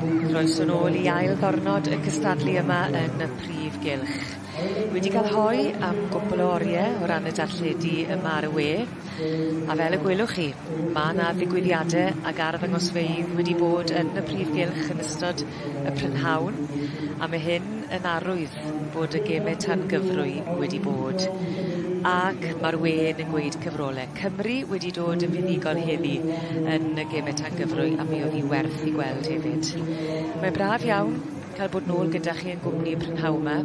Croeso nôl i ail ddornod y cystadlu yma yn y prif gylch. Wedi ca'l hoe am gwpwl o orie o ran y darlledu yma ar y we, a fel y gwelwch chi, ma' 'na ddigwyddiade ag arddangosfeydd wedi bod yn y prif gylch yn ystod y prynhawn, a ma' hyn yn arwydd bod y geme tangyfrwy wedi bod ac mae'r wên yn gweud cyfrolau. Cymru wedi dod yn fuddugol heddi yn y geme tangyfrwy a mi oedd hi werth i gweld hefyd. Mae'n braf iawn cael bod nôl gyda chi yn gwmni y prynhawn yma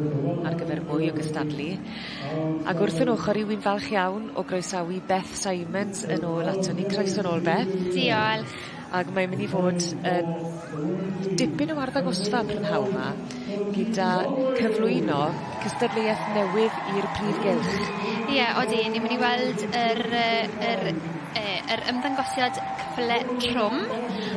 ar gyfer mwy o gystadlu. Ac wrth yn ochr i wy'n falch iawn o groesawu Beth Simons yn ôl ato ni. Croeso nôl Beth. Diolch. Ag mae'n mynd i fod yn dipyn o arddangosfa prynhawn 'ma gyda cyflwyno cystadleuaeth newydd i'r Prif Gylch. Ie odi ni myn' i weld yr yy yr yy yr ymddangosiad cyffyle trwm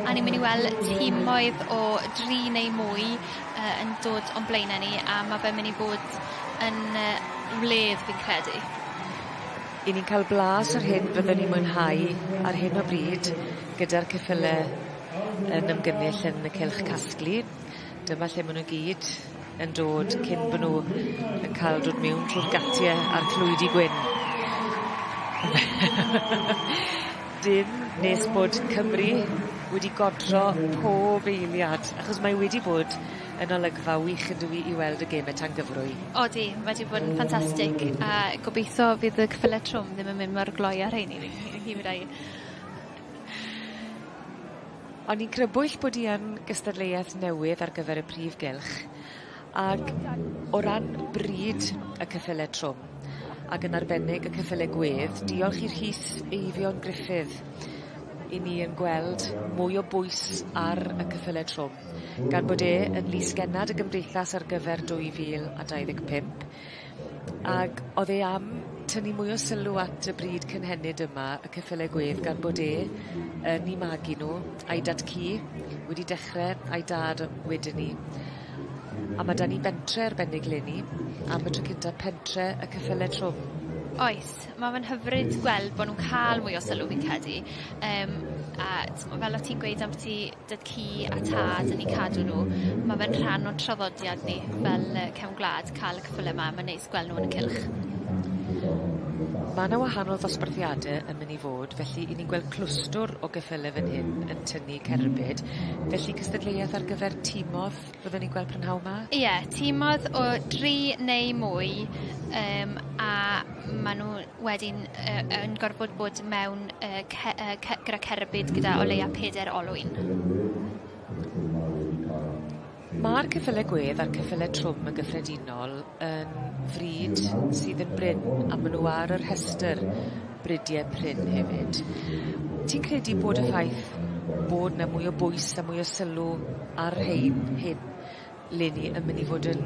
a ni myn' i wel' timoedd o dri neu mwy yy yn dod o'n blaene ni a ma' fe myn' i bod yn yy wledd fi'n credu. 'Yn ni'n ca'l blas o'r hyn fyddwn ni'n mwynhau ar hyn o bryd gyda'r ceffyle yn ymgynnull yn y cylch casglu dyma lle ma' nw gyd yn dod cyn bo' nw yn ca'l dod miwn trw'r gatie a'r clwydi gwyn. Dim nes bod Cymru wedi godro pob eiliad achos mae wedi bod Yn olygfa wych ydw i i weld y geme tangyfrwy. Odi, mae 'di bod yn ffantastig a gobeithio fydd y cyffyle trwm ddim yn mynd mor gloi â rhein i fi i fi fyddai. O'n i'n crybwyll bod i yn gystadleuaeth newydd ar gyfer y prif gylch ag o ran bryd y cyffyle trwm ag yn arbennig y cyffyle gwedd diolch i Rhys Eifion Gruffydd 'yn ni yn gweld mwy o bwys ar y cyffyle trwm. gan bod e yn Lys Gennad y Gymdeithas ar gyfer 2025, ag odd e am tynnu mwy o sylw at y bryd cynhenid yma, y ceffyle gwedd, gan bod e yn 'u magu nw, a'i dad-cu, wedi dechre a'i dad o- wedyn 'ny. A ma' 'da ni bentre arbennig 'leni, am y tro cynta, pentre y ceffyle trwm. Oes, ma' fe'n hyfryd gweld bo' nw'n ca'l mwy o sylw fi'n credu, yym a t'mo' fel o' ti'n gweud ambyti dad cu a tad yn eu cadw nhw. Ma' fe'n rhan o'n traddodiad ni fel yy cefn gwlad ca'l y ceffyle 'ma ma'n neis gwel' nw yn y cylch. Ma' 'na wahanol ddosbarthiade yn myn' i fod felly 'yn ni'n gweld clwstwr o geffyle fyn hyn yn tynnu cerbyd felly cystadleuaeth ar gyfer timodd Byddwn ni'n gweld prynhawn 'ma. Ie, timodd o dri neu mwy yym a ma' nw wedyn yy yn gorfod bod mewn yy ce- yy ce- gyda cerbyd gyda o leia peder olwyn. Ma'r ceffyle gwedd a'r ceffyle trwm yn gyffredinol yn frîd sydd yn brin a ma' nw ar y rhestyr bridie prin hefyd. Ti'n credu bod y ffaith bod 'na mwy o bwys a mwy o sylw A'r rhein hyn 'len ni yn myn' i fod yn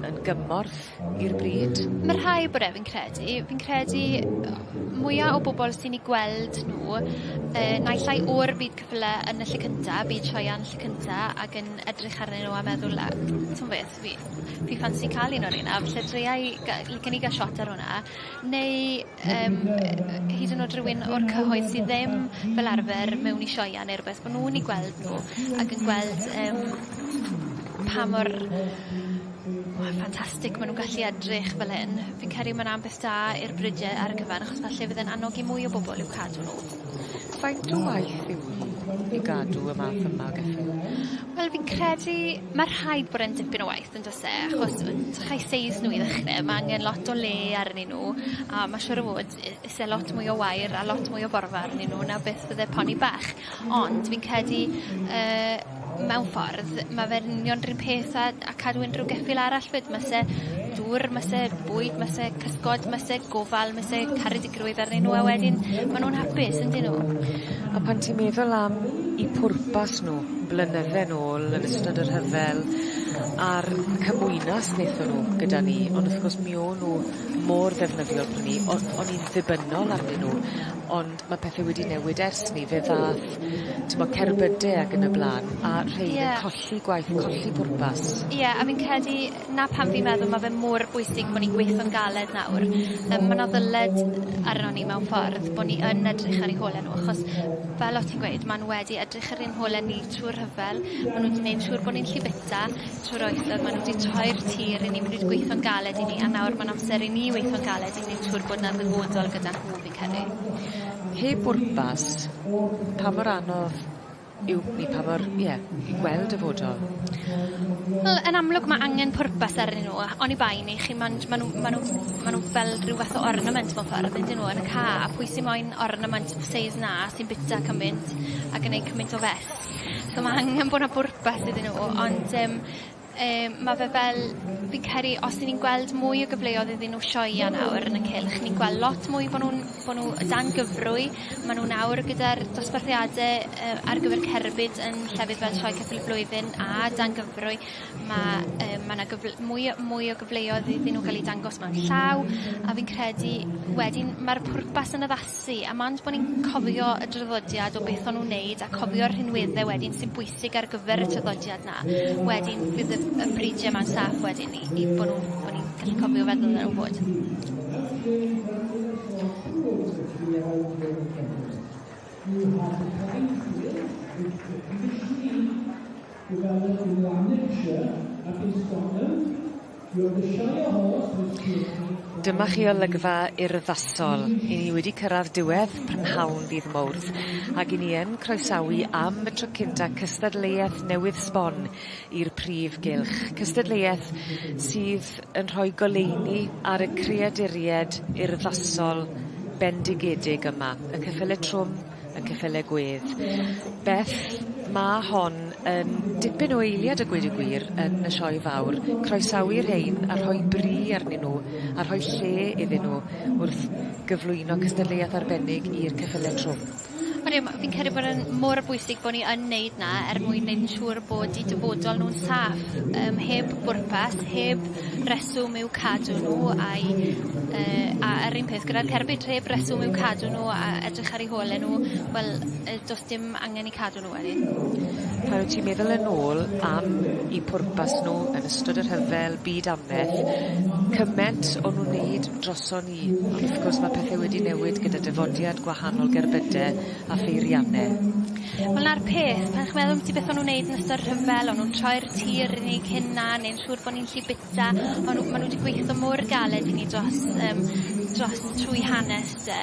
yn gymorth i'r bryd. Ma' rhai o bobol fi'n credu fi'n credu yy mwya o bobol sy'n 'u gweld nw yy naill ai o'r byd cyfyle yn y lle cynta byd sioeau lle cynta ag yn edrych arnyn nw a meddwl a t'mo' beth fi fi ffansi ca'l un o reina falle dreua i ga- gei ni ga'l shot ar wnna neu yym yy hyd yn o'd rywun o'r cyhoedd sy ddim fel arfer mewn i sioeau ne' rwbeth bo' nw'n 'u gweld nw ac yn gweld yym pa mor mor ffantastig ma' nw'n gallu edrych fel hyn. Fi'n credu ma' 'na ambell da i'r brige ar y cyfan achos falle bydd e'n annogi mwy o bobol i'w cadw nw. Faint o waith yw hi i gadw y math yma o geffyl? Wel fi'n credu ma' rhaid bod e'n dipyn o waith. Yndos e? Achos yy dych chi'u seis nhw i ddechre ma' angen lot o le arnyn nhw a ma' siŵr o fod i- isie lot mwy o wair a lot mwy o borfa arnyn nhw na beth fydde poni bach. Ond fi'n credu yy mewn ffordd ma' fe'n union 'r un peth â â cadw unryw geffyl arall 'fyd ma' 'se dŵr ma' 'se bwyd ma' 'se cysgod ma' 'se gofal ma' 'se caredig grwydd arnyn nhw a wedyn ma' nhw'n hapus yndyn nhw? A pan ti'n meddwl am 'u pwrpas nhw blynydde nôl yn ystod y rhyfel a'r cymwynas nethon nhw gyda ni ond wrth gwrs mi o'n nhw mor ddefnyddiol pry' 'ny o- o'n i'n ddibynnol arnyn nhw ond ma' pethe wedi newid ers 'ny fe ddath t'mo' cerbyde ag yn y bla'n a rhein yn colli gwaith colli pwrpas. Ie a fi'n credu 'na pam fi'n meddwl ma' fe mor bwysig bo' ni'n gweitho'n galed nawr yym ma' 'na ddyled arnon ni mewn ffordd bo' ni yn edrych ar ein hole nw achos fel o' ti'n gweud ma' nw wedi edrych ar ein hole ni trw'r rhyfel ma' nw 'di neud siŵr bo' ni'n llu bita trw'r oesoedd ma' nw 'di troi'r tir i ni ma' nw 'di gweitho'n galed i ni a nawr ma'n amser i ni weitho'n galed i neud siŵr bod 'na ddyfodol gyda nhw fi'n credu. Heb bwrpas, pa mor anodd yw i pa mor, ie, i gweld dyfodol? Wel, yn amlwg ma' angen pwrpas arnyn nw a oni bai neu chi ma'n j- ma' nw ma' nw ma' nw fel rhyw fath o ornament mewn ffordd yndyn nw yn y ca' a pwy sy moyn ornament of the seis 'na sy'n bita cymynt a gneud cymynt o fess. So ma' angen bo' 'na bwrpas iddyn nw ond yym Yy ma' fe fel fi'n credu os 'yn ni'n gweld mwy o gyfleodd iddyn nw sioea nawr yn y cylch ni'n gwel' lot mwy bo' nw'n bo' nw o dan gyfrwy ma' nw nawr gyda'r dosbarthiade yy ar gyfer cerbyd yn llefydd fel Sioe Ceffyl y Flwyddyn a dan gyfrwy ma' yy ma' 'na gyfl- mwy o mwy o gyfleodd iddyn nw ga'l 'u dangos mewn llaw a fi'n credu wedyn ma'r pwrpas yn addasu a mond bo' ni'n cofio y draddodiad o beth o'n nw'n neud a cofio'r rhinwedde wedyn sy'n bwysig bwysig ar gyfer y traddodiad 'na. Wedyn bydd y y bridia 'ma'n saff wedyn i i bo' nw'n bo' ni'n gallu cofio feddwl ar ôl bod. Dyma chi olygfa urddasol. I ni wedi cyrradd diwedd prynhawn ddydd Mowrth ag i ni yn croesawu am y tro cynta cystadleuaeth newydd sbon i'r prif gylch. Cystadleuaeth sydd yn rhoi goleuni ar y creaduried urddasol bendigedig yma, y cyffyle trwm, y ceffyle gwedd. Beth, mae hon yn dipyn o eiliad y gweud y gwir yn y sioe fawr. Croesawu rhein a rhoi bri arnyn nhw a rhoi lle iddyn nhw wrth gyflwyno cystadleuaeth arbennig i'r ceffyle trwm. Ond ie, fi'n credu bod yn mor bwysig bod ni yn neud na er mwyn neud yn siŵr bod i dyfodol nhw'n saff, um, heb bwrpas, heb reswm yw cadw nhw a'u yy a a'r un peth gyda'r cerbyd heb reswm yw cadw nhw a edrych ar eu hole nhw wel yy do's dim angen 'u cadw nhw wedyn. Pan wt ti'n meddwl yn ôl am 'u pwrpas nhw yn ystod y rhyfel byd anferth cyment o' nw'n neud droson ni ond wrth gwrs ma' pethe wedi newid gyda dyfodiad gwahanol gerbyde a pheirianne. Wel 'na'r peth pan chi'n meddwl ambyti beth o' nw'n neud yn ystod rhyfel o' nw'n troi'r tir i ni cyn 'na neu'n siŵr bo' ni'n gallu bita ma' nw ma' nw 'di gweitho mor galed i ni dros yym dros trwy hanes 'de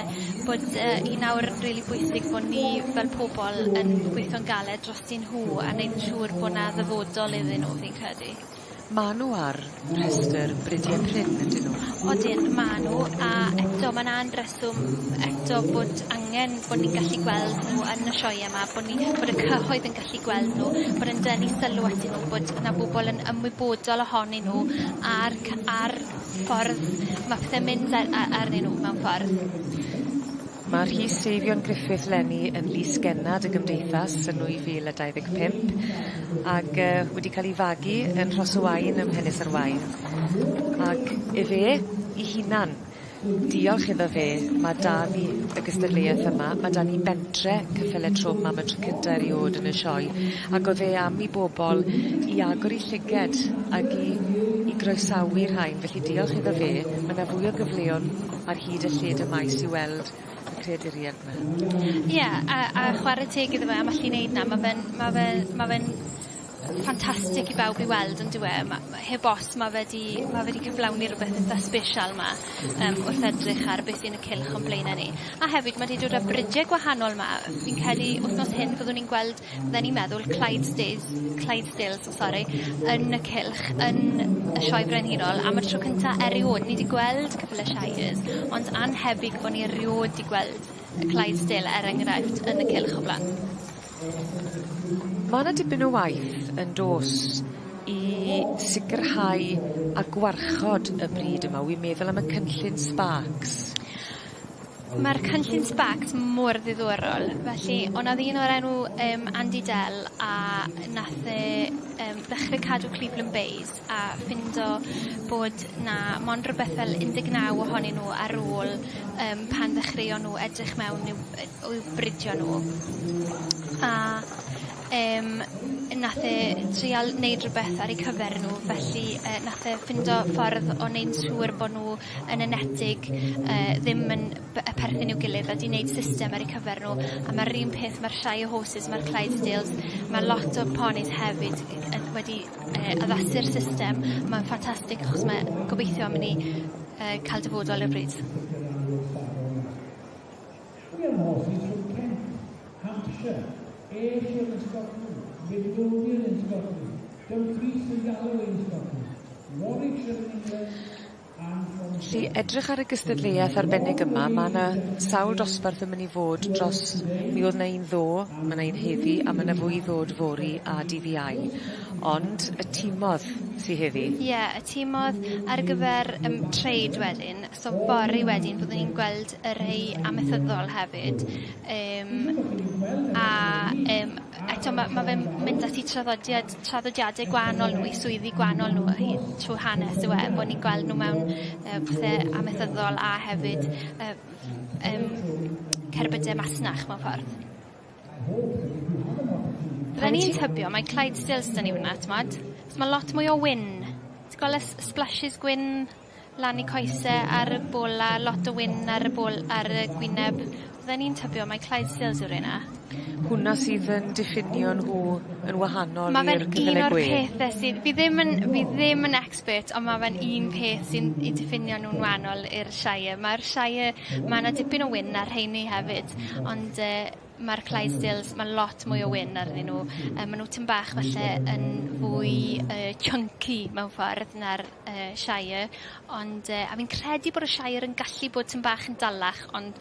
bod yy i nawr rili bwysig bo' ni fel pobol yn gweitho'n galed drostyn nhw a neud yn siŵr bo' 'na ddyfodol iddyn nw fi'n credu. Ma' nw ar rhestyr brudie prin yndyn nw? Odyn ma' nw a eto ma'n an-dryst So eto bod angen bod ni'n gallu gweld nhw yn y sioeau 'ma, bod ni bod y cyhoedd yn gallu gweld nhw, bod yn denu sylw atyn nhw, bod 'na bobol yn ymwybodol ohonyn nhw a'r cy- a'r ffordd ma' pethe'n mynd a- a- arnyn nhw mewn ffordd. Ma' Rhys Eifion Griffith leni yn Lys Gennad y Gymdeithas yn 2025 ag yy wedi ca'l 'i fagu yn Rhos y Waun ym Mhenysa'r Waun ac efe 'i hunan Diolch iddo fe, ma' 'da ni y gystadleuaeth yma, ma' 'da ni bentre Cyffyle Trwm am y tro cynta eriôd yn y sioe, ag o'dd e am i bobol i agor 'u llyged ag i i groesawu'r rhain, felly diolch iddo fe. Ma' 'na fwy o gyfleon ar hyd y lled y maes i weld y creaduried 'ma. Ie, a a chware teg iddo fe am allu neud 'na, ma' fe'n ma' fe ma' fe'n Ffantastic i bawb i weld on'd yw e ma' ma' heb os ma' fe 'di ma' fe 'di cyflawni rwbeth itha sbesial 'ma yym wrth edrych ar beth sy'n y cylch o'n blaena' ni. A hefyd ma' 'di dod â brige gwahanol 'ma yy fi'n credu wthnos hyn fyddwn ni'n gweld fydden i'n meddwl Clydesdales Clydesdales so sori yn y cylch yn y Sioe Brenhinol am y tro cynta eriod ni 'di gweld ceffyle Shires ond annhebyg bo' ni eriod 'di gweld y Clydesdale er enghraifft yn y cylch o bla'n. Ma' 'na dipyn o waith yn do's i sicirhau a gwarchod y brid yma wi'n meddwl am y cynllun Sparks. Ma'r cynllun Sparks mor ddiddorol felly o' 'na ddyn o'r enw yym Andy Dell a nath e yym ddechre cadw clwb Llanberis a ffindo bod 'na mond rwbeth fel un deg naw ohonyn nw ar ôl yym pan ddechreuon nw edrych mewn i'w yy o i'w bridio nw. A yym nath e trial neud rwbeth ar eu cyfer nw felly yy nath e ffindo ffordd o neud siŵr bo' nw yn enetig yy ddim yn by- yy perthyn i'w gilydd a 'di neud system ar eu cyfer nw a ma'r un peth ma'r Shire horses ma'r Clydesdales ma' lot o ponis hefyd yn wedi yy addasu'r system ma'n ffantastig achos mae gobeithio am i ni yy ca'l dyfodol ar y bryd. Felly edrych ar y gystadleuaeth arbennig yma ma' 'na sawl dosbarth yn myn' i fod dros mi o'dd 'na un ddo' ma' 'na un heddi a ma' 'na fwy i ddod fory a dydd Iau ond y timodd sy heddi. Ie y timodd ar gyfer yym trade wedyn so fory wedyn fyddwn ni'n gweld y rhei amaethyddol hefyd yym a yym Eto ma' ma' fe'n mynd ati traddodiad traddodiade gwanol nw 'u swyddi gwanol nw o'u trw hanes yw e bo' ni'n gweld nw mewn yy pethe amaethyddol a hefyd yy yym cerbyde masnach mewn ffordd. Bydden i'n tybio mai Clydesdales 'dyn ni wnna t'mod? 'Chos ma' lot mwy o wyn. Ti gwel' y s- y splashes gwyn? lan i coese ar y bola lot o wyn ar y bol- ar y gwyneb. Fydden i'n tybio mai Clydesdales yw reina. Hwnna sydd yn diffinio nhw yn wahanol i'r cyfyle gwe. Ma' fe'n un o'r pethe sydd fi ddim yn fi ddim yn expert on' ma' fe'n un peth sy'n 'u diffinio nw'n wanol i'r Shire. Ma'r Shire ma' 'na dipyn o wyn ar rheiny hefyd ond yy ma'r Clydesdales ma' lot mwy o wyn arnyn nw yy ma' nw tym bach falle yn fwy yy chunky mewn ffordd na'r yy Shire ond yy a fi'n credu bod y Shire yn gallu bod tym bach yn dalach ond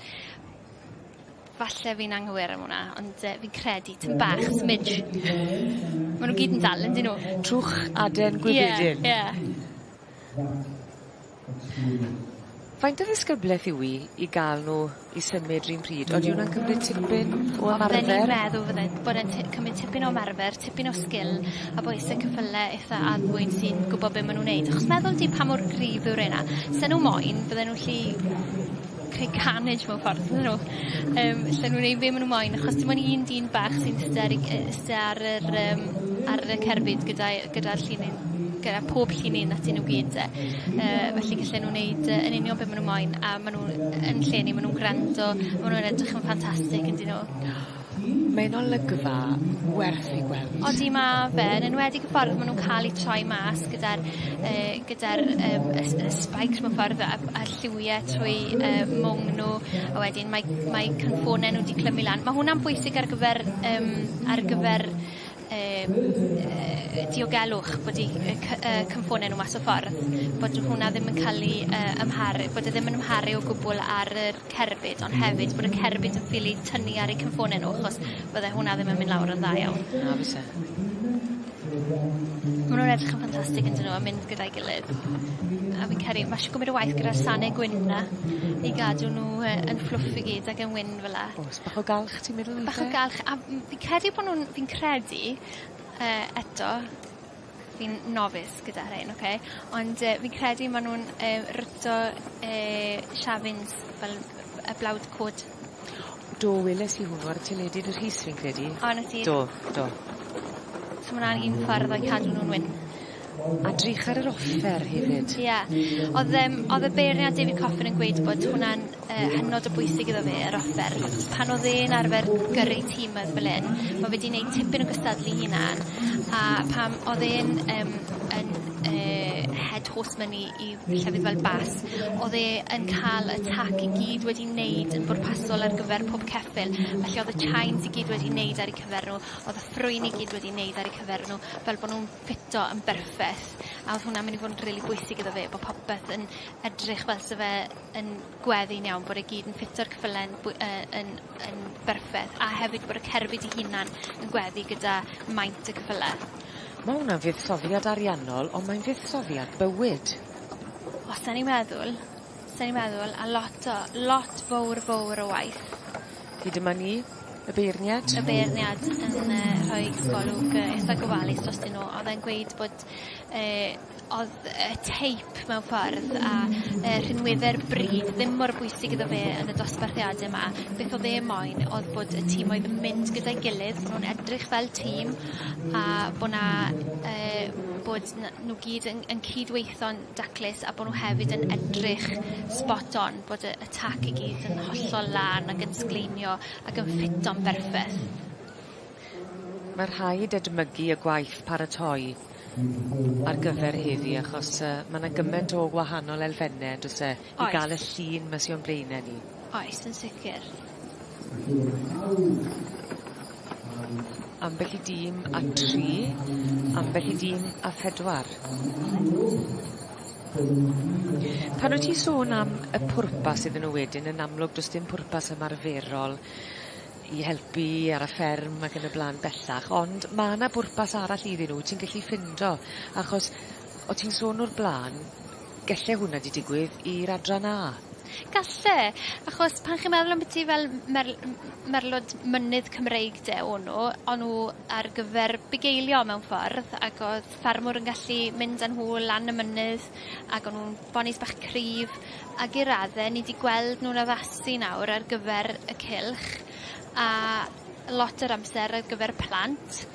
falle fi'n anghywir am wnna ond yy fi'n credu tym bach smidge. Ma' nw gyd yn dal yndyn nw? Trwch aden gwibedyn. Ie ie. Faint o ddisgyblaeth yw 'i i ga'l nw i symud 'run pryd odi wnna'n cymryd tipyn o ymarfer? Odden i'n meddwl fydde bod e'n ti- cymryd tipyn o ymarfer tipyn o sgil a bo isie cyffyle itha arfwyn sy'n gwbo be' ma' nw'n neud achos meddwl di pa mor gryf yw reina. Sa nw moyn fydde nw 'llu creu carnage mewn ffordd on'd 'yn nw? Yym lle nw'n neud be' ma' nw moyn achos dim on' un dyn bach sy'n iste ar 'i gy- iste ar yr yym ar y cerbyd gyda'i gyda'r llinyn, gyda pob llinyn atyn nw gyd 'te. Yy felly gellu nw neud yy yn union be' ma' nw moyn a ma' nw yn lle ni ma' nw'n grando ma' nw'n edrych yn ffantastic on'd 'yn nw? Mae yn olygfa werth ei gweld. Odi ma' fe yn enwedig y ffordd ma' nw'n ca'l 'u troi mas gyda'r yy gyda'r yym y s- y spikes mewn ffordd a a a'r lliwie trwy yy mwng n'w a wedyn mae mae cynffone nw'n 'di clymu lan. Ma' hwnna'n bwysig ar gyfer yym ar gyfer yym yy diogelwch bod 'u yy cy- yy cynffone nw mas o ffordd bod y hwnna ddim yn ca'l 'u yy amharu bod e ddim yn amharu o gwbwl ar yr cerbyd ond hefyd bod y cerbyd yn ffili tynnu ar eu cynffone nw achos bydde hwnna ddim yn myn' lawr yn dda iawn. Na fyse. Ma' nw'n edrych yn ffantastig yndyn nw a mynd gyda'i gilydd. A fi'n credu ma' isio cymryd y waith gyda'r sane gwyn 'na i gadw nw yy yn fflwff i gyd ag yn wyn fela. O's bach o galch Ti'n meddwl weithe? Bach o galch a m- fi'n credu bo' nw'n fi'n credu yy eto fi'n novice gyda rhein oce ond yy fi'n credu ma' nw'n yy rito yy Shafins fel yy y blawd cod. Do weles i hwnnw ar y teledu yn y Rhys fi'n credu. O 'na ti. Do do. So ma' wnna'n un ffordd o cadw nw'n wyn. A drych ar yr offer hefyd. Ie. Odd yym odd y beirniad David Coffin yn gweud bod hwnna'n yy hynod o bwysig iddo fe yr offer. Pan odd e'n arfer gyrru timydd fel 'yn ma' fe 'di neud tipyn o gystadlu 'i hunan a pam odd e'n yym yn yy head horseman i i llefydd fel Bath odd e yn ca'l y tac i gyd wedi neud yn bwrpasol ar gyfer pob ceffyl felly odd y chines i gyd wedi neud ar 'u cyfer nw odd y ffrwyni gyd wedi neud ar 'u cyfer nw fel bo' nw'n ffito yn berffeth, a odd hwnna'n myn' i fod yn rili bwysig iddo fe bo' popeth yn edrych fel sa fe yn gweddu'n iawn, bod e gyd yn ffito'r ceffyle yn bwy- yy yn yn berffeth, a hefyd bod y cerbyd 'i hunan yn gweddu gyda maint y ceffyle. Ma' wnna'n fuddsoddiad ariannol on' mae'n fuddsoddiad bywyd. Os 'dan ni'n meddwl Sa i'n meddwl a lot o lot fowr fowr o waith. Hyd yma ni. Y beirniad. Y beirniad yn yy rhoi golwg yy itha gofalus drostyn nw odd e'n gweud bod yy odd y teip mewn ffordd a yy rhinweddau'r bryd ddim mor bwysig iddo fe yn y dosbarthiade 'ma. Beth odd e moyn odd bod y tîm oedd yn mynd gyda'i gilydd bo' nw'n edrych fel tîm a bo' 'na yy bod 'na nw gyd yn yn cyd-weithio'n daclus a bo' nw hefyd yn edrych spot on bod y y tac i gyd yn hollol lân ag yn sgleiniio ac yn ffito'n berffeth. Mae rhaid edmygu y gwaith paratoi ar gyfer heddi achos yy ma' 'na gyment o wahanol elfenne on'd o's e? Oes. I ga'l y llun 'ma sy o'n blaene ni. Oes yn sicir. Ambell i dîm â tri, ambell i dîm â phedwar. Pan wyt ti'n sôn am y pwrpas iddyn nhw wedyn yn amlwg does dim pwrpas ymarferol i helpu ar y fferm ac yn y bla'n bellach ond ma' 'na bwrpas arall iddyn nhw ti'n gallu ffindo achos o' ti'n sôn o'r bla'n Gelle hwnna 'di digwydd i'r adran A? Galle, achos pan chi'n meddwl ambyti fel m- merl- m- m- merlwd mynydd Cymreig 'de o' nw, o' nw ar gyfer bugeilio mewn ffordd ag o'dd ffermwr yn gallu mynd â nhw lan y mynydd ag o' nw'n bonis bach cryf ag i radde ni 'di gweld nw'n addasu nawr ar gyfer y cylch a lot o'r amser ar gyfer plant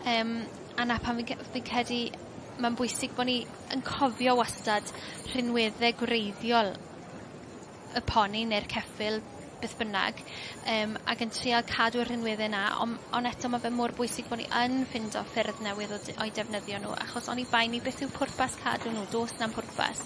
yym a 'na pan fi'n ce- fi'n credu ma'n bwysig bo' ni yn cofio wastad rhinwedde gwreiddiol y poni neu'r ceffyl beth bynnag yym ag yn trial cadw'r rhinwedde 'na on' on' eto ma' fe mor bwysig bo' ni yn ffindo ffyrdd newydd o de- o'i defnyddio nhw achos oni bai 'ny beth yw pwrpas cadw nhw do's na'm pwrpas.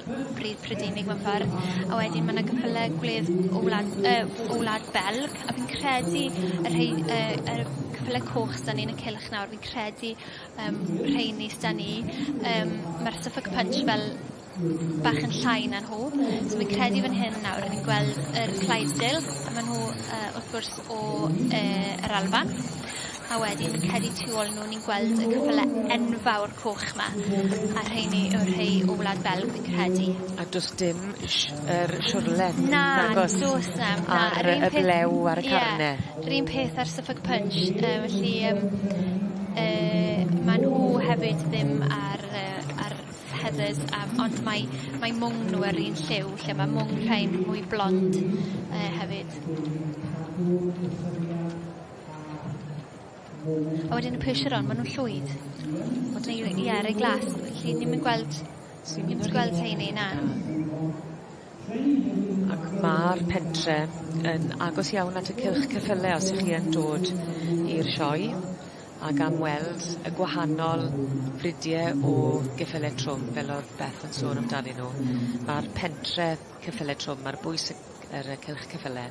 pridd Prydeinig mewn ffordd, a wedyn ma' 'na cwpwl o gwledd o wlad yy o wlad Belg, a fi'n credu y rhei yy yr cwpwl y coch s'da ni yn y cylch nawr fi'n credu yym rheini s'da ni yym ma'r Suffolk Punch fel bach yn llai na nhw, so fi'n credu fan hyn nawr o'n i'n gweld yr Clydesdale a ma' nhw yy wrth gwrs o yy yr Alban. A wedyn fi'n credu tu ôl nw ni'n gweld y cwpwl e- enfawr coch 'ma. A rheiny yw'r rhei o Wlad Belg fi'n credu. A do's dim sh- yr siwrlen... Na. ...nagos? Do's na'm na. Ar y y blew ar y carne. Ie. 'Run peth â'r Suffolk Punch yy felly yym yy ma' nhw hefyd ddim ar yy ar Heathers a m- ond mae mae mwng nw ar un lliw lle ma' mwng rhein mwy blond yy hefyd. A wedyn y pressure on, ma' nw'n llwydd. Ond rei- rei- ie rei glas. Felly ni'm yn gweld Swn ni'm yn gweld rheiny na. Ac ma'r pentre yn agos iawn at y cylch ceffyle os 'ych chi yn dod i'r sioe ag am weld y gwahanol brydie o geffyle trwm fel o'dd Beth yn sôn amdanyn nw. Ma'r pentre cyffyle trwm ar bwys y yr yy cylch cyffyle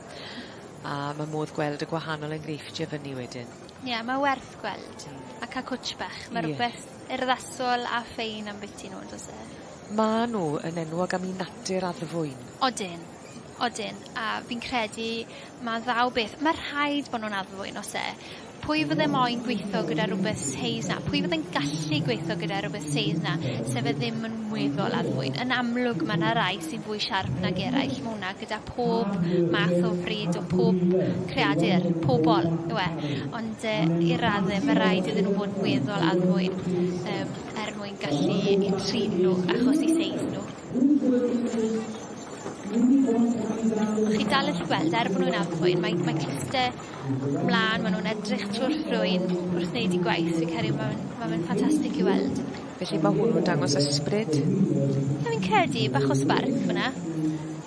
a ma' modd gweld y gwahanol enghreifftie fyny wedyn. Ie, mae werth gweld. Mm. A ca' cwtsh bach. Ie. Mae rhywbeth urddasol a ffein ambiti nhw, does e? Maen nhw yn enwog am eu natur addfwyn. Odyn. Odyn. A fi'n credu ma' ddaw beth... Mae rhaid bod nhw'n addfwyn, oes e? Pwy fydde moyn gweithio gyda rhywbeth seis 'na? Pwy fydde'n gallu gweithio gyda rhywbeth seis 'na, sef e ddim yn weddol addfwyn? Yn amlwg, mae yna rai sy'n fwy siarp nag eraill, mae hwnna gyda pob math o fryd o pob creadur, pobol yw e, ond yy i radde mae rhaid iddyn nhw fod yn weddol addfwyn um, er mwyn gallu i trin nhw achos i seis nhw. Chi dal yn gweld, er bod nhw'n addfwyn, mae, mae cluste mlan ma' nw'n edrych trw'r ffrwyn wrth neud 'u gwaith fi'n credu ma' fe'n ma' fe'n ffantastic i weld. Felly ma' hwn yn dangos ysbryd. Wel fi'n credu bach o sbarc fyn 'na.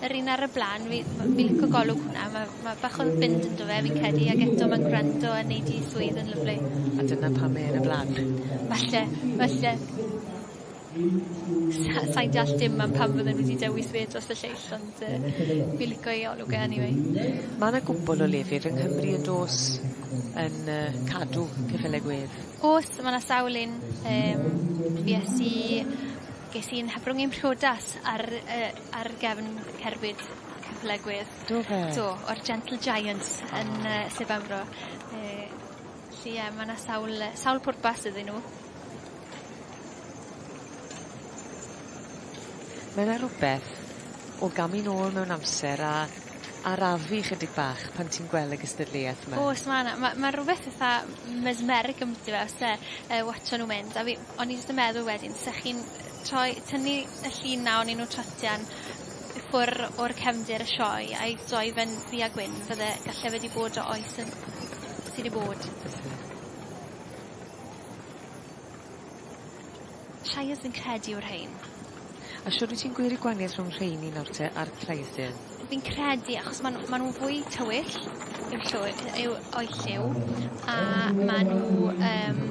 Yr un ar y bla'n fi ma' fi'n lico golwg hwnna ma' ma' bach o fynd ynddo fe fi'n credu ag eto ma'n gwrando a neud 'i swydd yn lyfli. A dyna pam mae e yn y bla'n. Falle falle. Sa- sai'n deall dim am pam fydden nw 'di dewis fi dros y lleill ond yy fi lico ei olwg e eniwe. Ma' 'na gwpwl o lefydd yng Nghymru yn do's yn yy cadw ceffyle gwedd? O's ma' 'na sawl un yym fues i ges i'n hyfrwng i'm mhriodas ar yy ar gefn cerbyd ceffyle gwedd. Do fe? Do o'r Gentle Giant yn yy Sir Benfro yy Felly ie ma' 'na sawl yy sawl pwrpas iddyn nhw. Mae 'na rwbeth o gamu nôl mewn amser a arafu chydig bach pan ti'n gwel' y gystadleuaeth 'ma. O's ma' 'na ma' ma' rwbeth itha mesmeric ambyty fe o's e? Yy watsio nw mynd a fi o'n i jyst yn meddwl wedyn 'sech chi'n yy troi tynnu y llun 'na onyn nw tratian Ffwr o'r cefndir y sioe a'i doefen ddu a gwyn fydde galle wedi bod o oes yn... Ti 'di bod? Shires yn credu yw'r rhein. A shwd wyt ti'n gwirio gwanieth rhwng rheini nawr te a'r Clayton? Fi'n credu achos ma' nw ma' nw fwy tywyll yw llwy- yy yw o'i lliw a ma' nw yym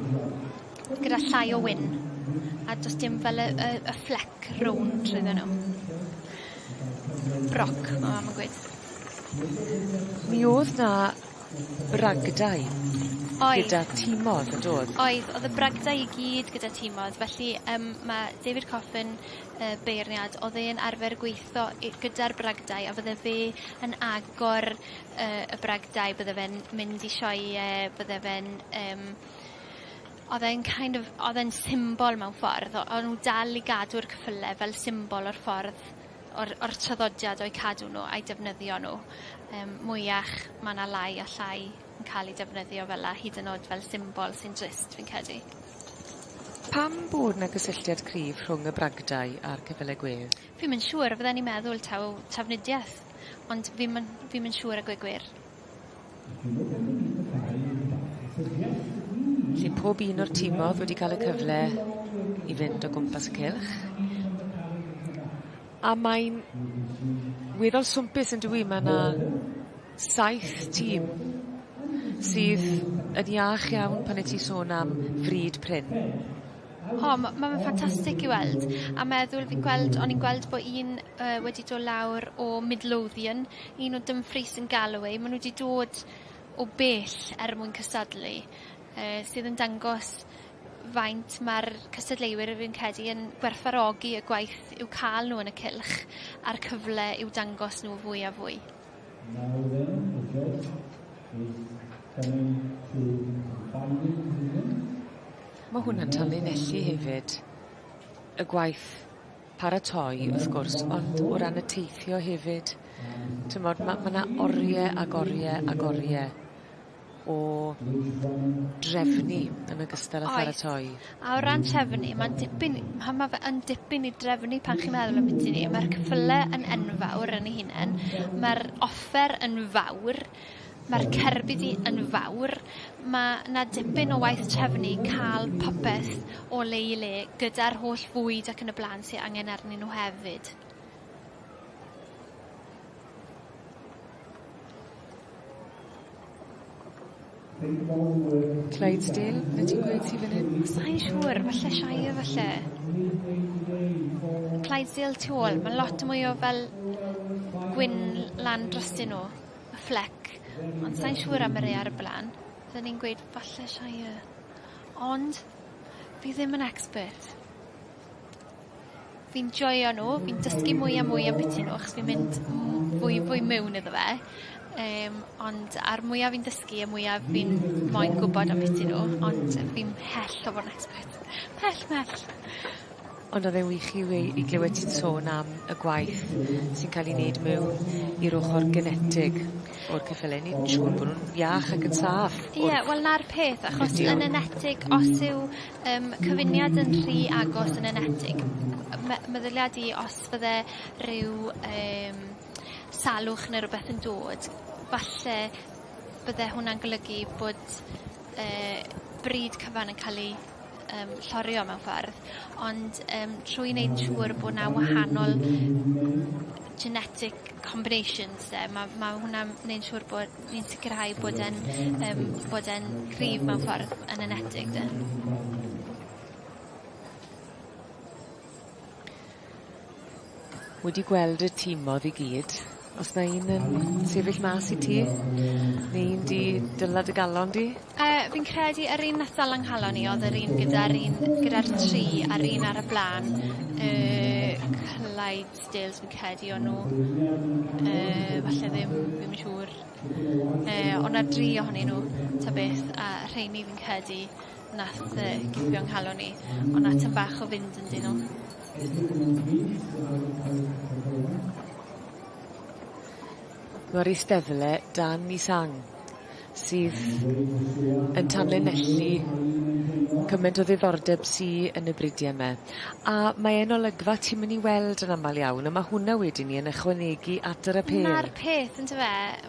Gyda llai o win. A does dim fel y, y, y fflec rownd trwyddo nhw. Broc, mae mam yn gweud. Mi oedd na bragdau oedd. gyda tîmodd yn dod? Oedd, oedd y bragdau i gyd gyda tîmodd. Felly um, mae David Coffin, uh, beirniad, oedd e'n arfer gweithio gyda'r bragdau a fydde fe yn agor uh, y bragdau, bydde fe'n mynd i sioe, bydde fe'n um, Odd e'n kind of odd e'n symbol mewn ffordd o- o'n nw dal i gadw'r cyffyle fel symbol o'r ffordd o'r o'r traddodiad o'u cadw nw a'u defnyddio nw yym mwyach ma' 'na lai a llai yn ca'l 'u defnyddio fel 'a hyd yn o'd fel symbol sy'n drist fi'n credu. Pam bod 'na gysylltiad cryf rhwng y bragdai a'r cyffyle gwedd? Fi'm yn siŵr fydden i'n meddwl taw trafnidieth ond fi'm yn fi'm yn siŵr a gwe gwir. Felly pob un o'r timodd wedi ca'l y cyfle i fynd o gwmpas y cylch. A mae'n weddol swmpus yndyw 'i? Ma' 'na saith tîm sydd yn iach iawn pan wyt ti'n sôn am fryd prin. O ma' ma' fe'n ffantastig i weld a meddwl fi'n gweld o'n i'n gweld bo' un yy wedi do' lawr o Midlothian un o Dumfries yn galw ei, maen nhw wedi dod o bell er mwyn cystadlu, uh, sydd yn dangos faint mae'r cystadleuwyr fi'n credu yn gwerthfarogi y gwaith i'w cael nhw yn y cylch a'r cyfle i'w dangos nhw fwy a fwy. Now then, the judge is coming to the binding decision. Mae hwnna'n tanlinellu hefyd y gwaith paratoi wrth gwrs ond o ran y teithio hefyd t'mod ma' ma' 'na orie ag orie ag orie o drefnu yn ogystal â pharatoi. Oes. A o ran trefnu ma'n dipyn ma' ma' fe yn dipyn i drefnu pan chi'n meddwl ambyti 'ny ma'r cyffyle yn enfawr yn ei hunen ma'r offer yn fawr Mae'r cerbyddi yn fawr. Mae 'na dipyn o waith trefnu, ca'l popeth o le i le gyda'r holl fwyd ac yn y bla'n sy angen arnyn nhw hefyd. Clydesdale be' ti'n gweud ti fan 'yn? Sai'n siŵr falle Shire falle. Clydesdale tu ôl ma' lot mwy o fel gwyn lan drostyn nhw. y fflec ond sai'n siŵr am y rei ar y bla'n. Fydden ni'n gweud falle Shire. Ond fi ddim yn expert. Fi'n joio nhw, fi'n dysgu mwy a mwy am biti nhw achos fi'n mynd fwy fwy mewn iddo fe. Um, ond a'r mwyaf fi'n dysgu, y mwyaf fi'n moyn gwybod am biti nhw, ond fi'n hell o fod yn expert. Pell, mell. Ond odd e'n wych i wei- i glywed ti'n sôn am y gwaith sy'n ca'l 'i neud mewn i'r ochor genetig o'r cyffyle o'n i'n siŵr bo' nw'n iach ac yn saff o'r... Ie wel 'na'r peth achos yn enetig os yw yym cyfuniad yn rhy agos yn enetig yy me- meddylia di os fydde ryw yym salwch ne' rwbeth yn dod falle bydde hwnna'n golygu bod yy bryd cyfan yn ca'l 'i yym llorio mewn ffordd ond yym trwy neud yn siŵr bo' 'na wahanol genetic combinations 'de ma' ma' hwnna'n neud siŵr bod ni'n sicirhau bod e'n yym bod e'n cryf mewn ffordd yn enetig 'de? Wedi gweld y timodd i gyd. Os 'na un yn sefyll mas i ti? Ne' un 'di dyla dy galon di? Yy fi'n credu yr un nath dala 'nghalon i odd yr un gyda'r un gyda'r tri a'r un ar y bla'n yy Clydesdales fi'n credu o' nw. Yy falle ddim, fi'm yn siŵr. Yy o' 'na dri ohonyn nw ta beth a rheini fi'n credu Nath yy cipio 'nghalon i. O' 'na tym bach o fynd yndyn nw. Ma'r isdeddle dan mis Ang sydd yn tanlinellu cyment o ddiddordeb sy yn y bridia 'ma. A mae e'n olygfa ti'm yn 'i weld yn amal iawn a ma' hwnna wedyn 'ny yn ychwanegu at yr apêl. 'Na'r peth on'd yfe?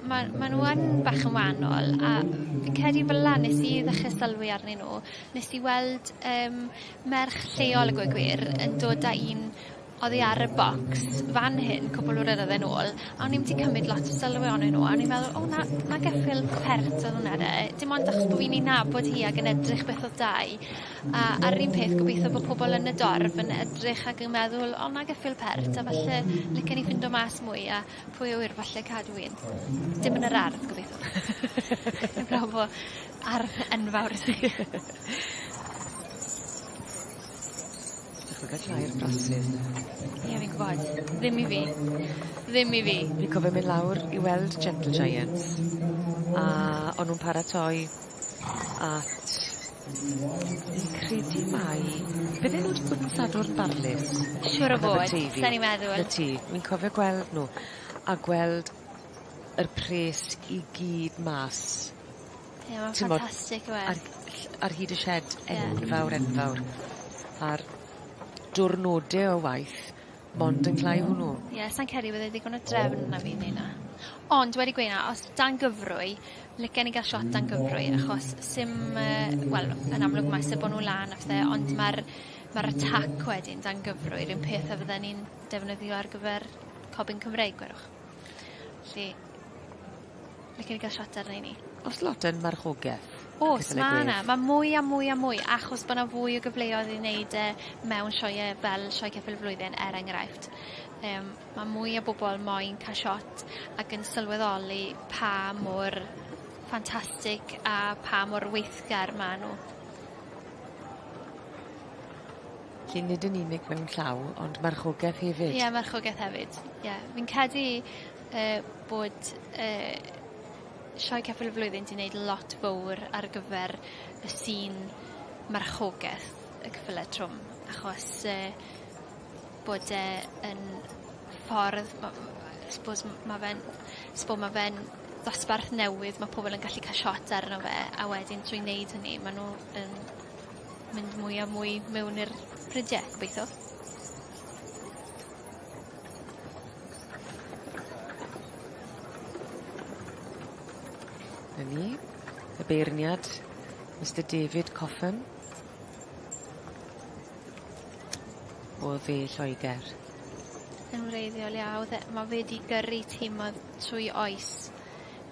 Ma' ma' nw yn bach yn wahanol a fi'n credu fel 'a nes i ddechre sylwi arnyn nw nes i weld yym merch lleol a gweud gwir yn dod â un oddi ar y bocs fan hyn cwpwl o flynydde yn ôl a o'n i'm 'di cymryd lot o sylw onyn nw a o'n i'n meddwl o 'na 'na geffyl pert odd wnna 'de dim ond achos bo' fi'n 'i nabod hi ag yn edrych beth odd 'da 'i A ar yr un peth gobeithio bo' pobol yn y dorf yn edrych ag yn meddwl o 'nai gyff' il pert a falle licen i ffindo mas mwy a pwy a ŵyr falle cadw un. Dim yn yr ardd gobeithio. Heblaw bo ardd enfawr i ti. Dychmyga tair braslun. Ie fi'n gwbod. Ddim i fi. Ddim i fi. Fi'n cofio myn' lawr i weld gentle giants a o'n nw'n paratoi at fi'n credu mai bydde nw 'di bod yn Sadwrn Barlys. Siŵr o fod. Yn Aberteifi. Sa'n i'n meddwl. 'na ti. Wi'n cofio gweld nw a gweld yr pres i gyd mas. Ie ma'n ffantastic yw e? Ar ll- ar hyd y sied enfawr enfawr. A'r diwrnode o waith Mond yn cloi hwnnw. Ie sai'n credu bod e ddigon o drefn na fi neud 'na. Ond wedi gweu' 'na os dan gyfrwy licen i ga'l shot dan gyfrwy achos sim yy wel yn amlwg ma' isie bo' nw lan a pethe ond ma'r ma'r y tac wedyn dan gyfrwy 'r un peth a fydden ni'n defnyddio ar gyfer Cob Yn Cymreig gwedwch. 'Lly Licen i gael shot arnyn ni. Oes lot yn marchogaeth? Oes, mae yna. Mae mwy a mwy a mwy, achos bod yna fwy o gyfleoedd i wneud e mewn sioe fel Sioe Ceffyl y Flwyddyn, er enghraifft. Um, mae mwy o bobl moyn cael shot ac yn sylweddoli pa mor ffantastig a pa mor weithgar mae nhw. Felly nid yn unig mewn llaw, ond marchogaeth hefyd. Ie, marchogaeth hefyd. Ie, fi'n credu y bod y Sioe Capel y Flwyddyn 'di neud lot fowr ar gyfer y sîn marchogeth y cyfyle trwm achos yy bod e yn ffordd ma' m- I spose m- ma' fe'n s- bo' ma' fe'n ddosbarth newydd ma' pobol yn gallu ca'l shot arno fe a wedyn trwy neud hynny ma' nw yn mynd mwy a mwy mewn i'r prydie gobeitho. Na ni. Y beirniad, Mister David Coffin. O dde Lloegr. Yn wreiddiol iawn, e, mae fe wedi gyrru tîmodd trwy oes.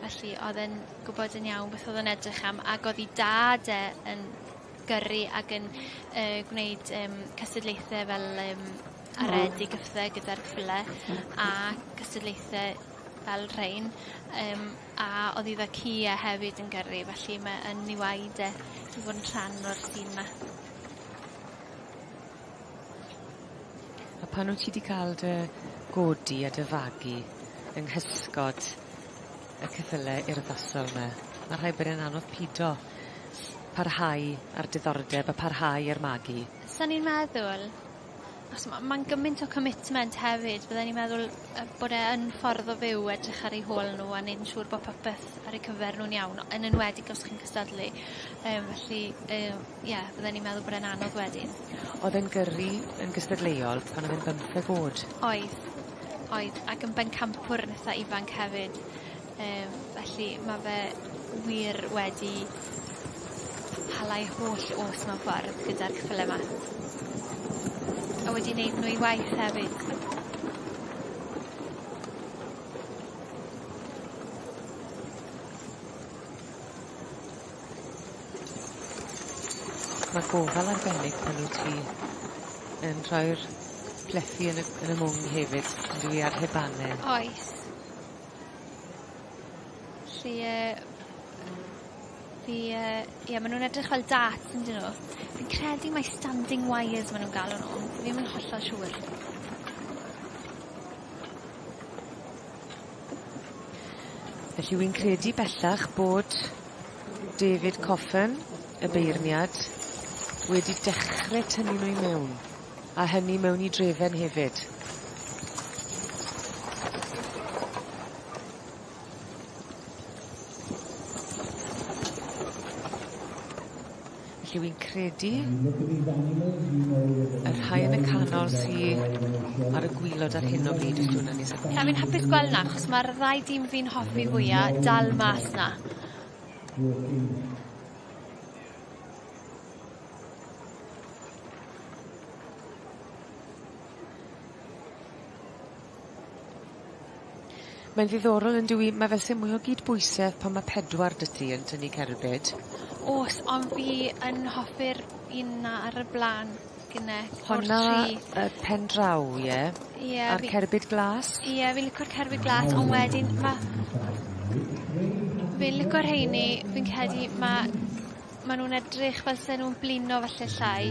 Felly oedd e'n gwybod yn iawn beth oedd yn edrych am ac oedd ei dad e yn gyrru ac yn uh, gwneud um, cystadlaethau fel um, a red i gyffdde gyda'r cyfle a cystadlaethe fel rhein yym a oddi fe ci a hefyd yn gyrru felly mae yn ei waed e i fod yn rhan o'r tîm 'ma. A pan wt ti 'di ca'l dy godi a dy fagu yng nghysgod y ceffyle urddasol 'ma ma' rhaid bod e'n anodd pido s- parhau â'r diddordeb a parhau â'r magu. Sa'n i'n meddwl Achos ma' ma'n gymaint o commitment hefyd bydden i'n meddwl yy bod e yn ffordd o fyw edrych ar eu hôl nw a neud yn siŵr bo' popeth ar eu cyfer nw'n iawn yn enwedig os chi'n cystadlu yym felly yym ie fydden i'n meddwl bod e'n anodd wedyn. Odd e'n gyrru yn gystadleuol pan odd e'n bymtheg o'd. Oedd. Oedd ac yn bencampwr yn itha ifanc hefyd. Yy felly ma' fe wir wedi hala'i holl o's mewn ffordd gyda'r ceffyle 'ma. A wedi neud nw i waith hefyd. Mae gofal arbennig pan wyt ti yn rhoi'r plethu yn y yn y mwng hefyd on'd yw i ar hebane. Oes. Felly yy fi yy ie ma' nw'n edrych fel darts on'd 'yn nw? Fi'n credu mai standing wires ma' nw'n galw nw. Fi ddim yn hollol siŵr. Felly wi'n credu bellach bod David Coffin y beirniad wedi dechre tynnu nw i mewn. A hynny mewn i drefen hefyd. Felly wi'n credu y rhai yn y canol sy ar y gwylod ar hyn o bryd ydw na ni. Na fi'n hapus gweld na achos mae'r ddau dîm fi'n hoffi fwya dal mas na. Mae'n ddiddorol yndyw 'i? Mae fel se mwy o gydbwysedd pan ma' pedwar 'da ti yn tynnu cerbyd. O's ond fi yn hoffi'r un 'na ar y bla'n gynne. Honna yy pen draw ie? Ie. A'r cerbyd glas? Ie fi'n licio'r cerbyd glas on' wedyn ma' fi'n lico rheiny fi'n credu ma' Ma' nw'n edrych fel se nw'n blino falle llai.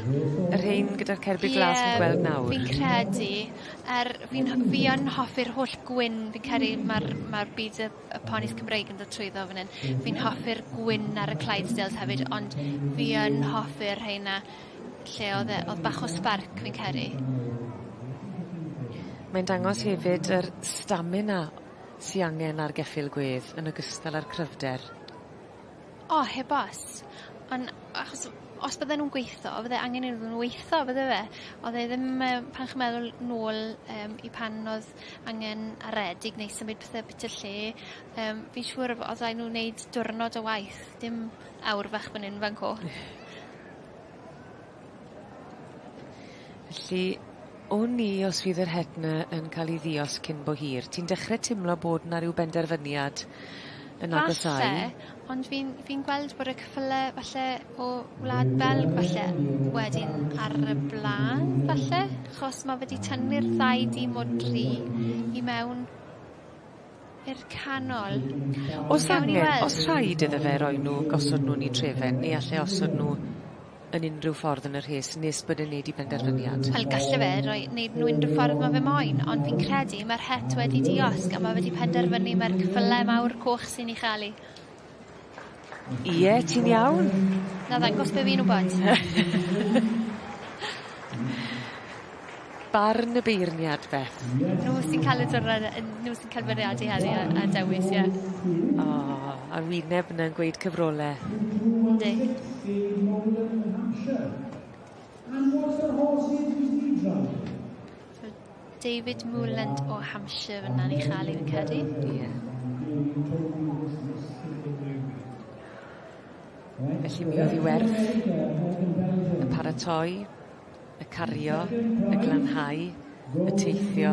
Y rhein gyda'r cerbyd glas fi'n gweld nawr? Ie fi'n credu. A'r fi'n ho- fi yn hoffi'r holl gwyn fi credu ma'r ma'r byd y y ponis Cymreig yn dod trwyddo fan 'yn. Fi'n hoffi'r gwyn ar y Clydesdales hefyd ond fi yn hoffi'r rheina lle odd e odd bach o sbarc fi'n credu. Mae'n dangos hefyd yr stamina sy angen ar geffyl gwedd yn ogystal â'r cryfder. O heb os. On' achos os bydde nw'n gweitho fydde angen iddyn nw weitho bydde fe? Odd e ddim yym pan chi'n meddwl nôl yym i pan odd angen aredig neu symud pethe byti o'r lle yym fi'n siŵr of- os raid nw wneud diwrnod o waith dim awr fach fyn 'yn fan 'co. Felly wn i os fydd yr het 'na yn ca'l 'i ddiosg cyn bo hir. Ti'n dechre timlo bod 'na ryw benderfyniad yn agosáu. Falle, ond fi'n fi'n gweld bod y ceffyle falle o Wlad Belg falle wedyn ar y bla'n falle, achos ma' fe 'di tynnu'r ddau dîm o dri i mewn. i'r canol. Os angen, os rhaid iddo fe roi nhw, gosod nhw yn ei trefen, neu all e osod nhw yn unrhyw ffordd yn y rhes nes bod e'n neud i benderfyniad? Wel galle fe roi neud nhw unrhyw ffordd ma fe moyn ond fi'n credu ma'r het wedi diosg a ma fe wedi penderfynu mai'r cyffyle mawr coch sy'n ei chael 'i. Ie, ti'n iawn? Na ddangos be fi'n wbod. Barn y beirniad, Beth? Nhw sy'n cael y dwrnod yy nhw sy'n cael bwriadu heddi a a dewis ie. O, a'r wyneb yna'n gweud cyfrole. Yndi. So David Moorland o Hampshire fyn 'na ni cha'l 'i fi'n credu. Ie. Felly mi odd 'i werth y paratoi, y cario, y glanhau, y teithio,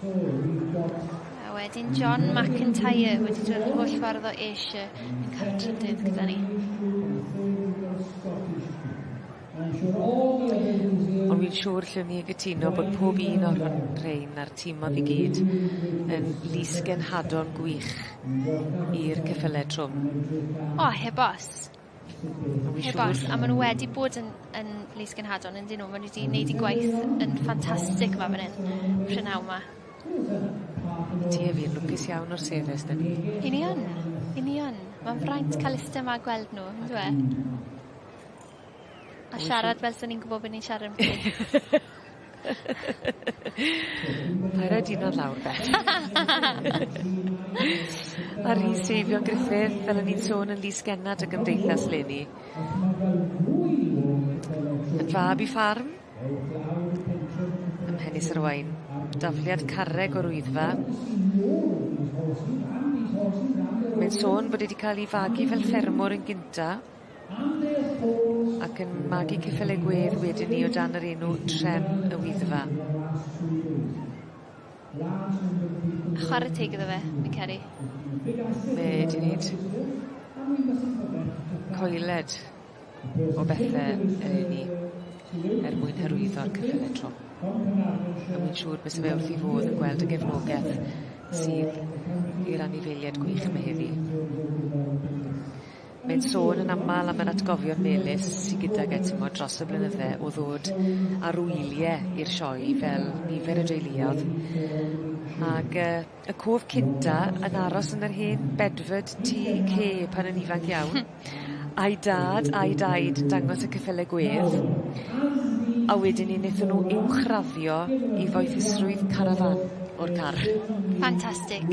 A wedyn John McIntyre wedi dod yr holl ffordd o Ayrshire yn cael y trydydd gyda ni. Ond fi'n siŵr lle ni gytuno bod pob un o'r hwn rhein a'r tîmodd i gyd yn lys genhadon gwych i'r cyffyle trwm. O heb os. Heb os, a ma' nw wedi bod yn yn Lys Gynhadon yndyn nw ma' nw 'di neud 'u gwaith yn ffantastic 'ma fyn 'yn. Prynawn 'ma. Ti a fi yn lwcus iawn o'r sefyll 'dyn ni. 'Yn ni yn. 'Yn ni yn. Ma'n fraint ca'l iste 'ma a gweld nw on'd yw e? A siarad fel swn i'n gwbo be' ni'n siarad amdani. Paid roi dina'n ddlawr 'de. A Rhys Eifion Gruffydd fel o'n i'n sôn yn fis genad y gymdeithas leni. Yn fab i ffarm ym Mhenis yr Owain. Dafliad carreg o'r Wyddfa. Mae'n sôn bod e 'di ca'l 'i fagu fel ffermwr yn gynta. Ac yn magu cyffyle gwedd wedyn 'ny o dan yr enw Trem y Wyddfa. A chware teg iddo fe, fi'n credu. Fe 'di neud coeled o bethe eleni er mwyn hyrwyddo'r cyffyle trwm. A wi'n siŵr bysa fe wrth 'i fodd yn gweld y gefnogeth sydd i'r anifeilied gwych 'ma heddi. Mae'n sôn yn aml am yr atgofion melys sy gydag e timo dros y blynydde o ddod ar wylie i'r sioe fel nifer y deuluodd. Ag yy y cof cynta yn aros yn yr hen bedford tŷ cê pan yn ifanc iawn. A'i dad a'i daid yn dangos y cyffyle gwedd. A wedyn 'ny nethon nw uwchraddio i foethusrwydd carafán o'r car. Ffantastig.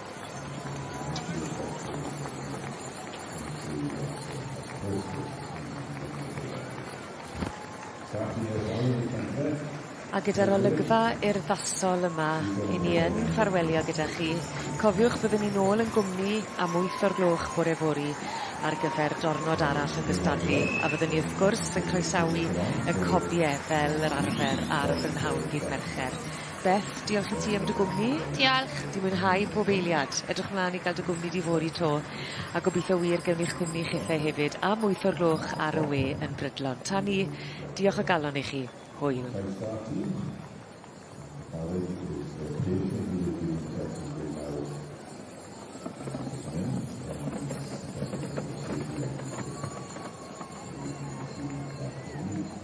A gyda'r olygfa urddasol yma, 'yn ni yn ffarwelio gyda chi. Cofiwch byddwn ni nôl yn gwmni am wyth o'r gloch bore fory ar gyfer dornod arall o gystadlu, a fyddwn ni wrth gwrs yn croesawu y cobie fel yr arfer ar brynhawn ddydd Mercher. Beth, diolch i ti am dy gwmni. Diolch. Di mwynhau pob eiliad. Edrych mlan i ga'l dy gwmni di fory 'to. A gobitho wir gewn ni'ch cwmni chithe hefyd a mwyth o'r gloch ar y we yn brydlon. Tan 'ny, diolch o galon i chi. Hwyl. Croeso ati. Aled i gyd. Wel, prin cyn hir bydd yn cwrt yn fwy mawr. Mae'n jyst mynd, a mae'n mynd syth ar gyfer y swydd diolch i chi. Rwy'n rhywun sy'n bach o rydd.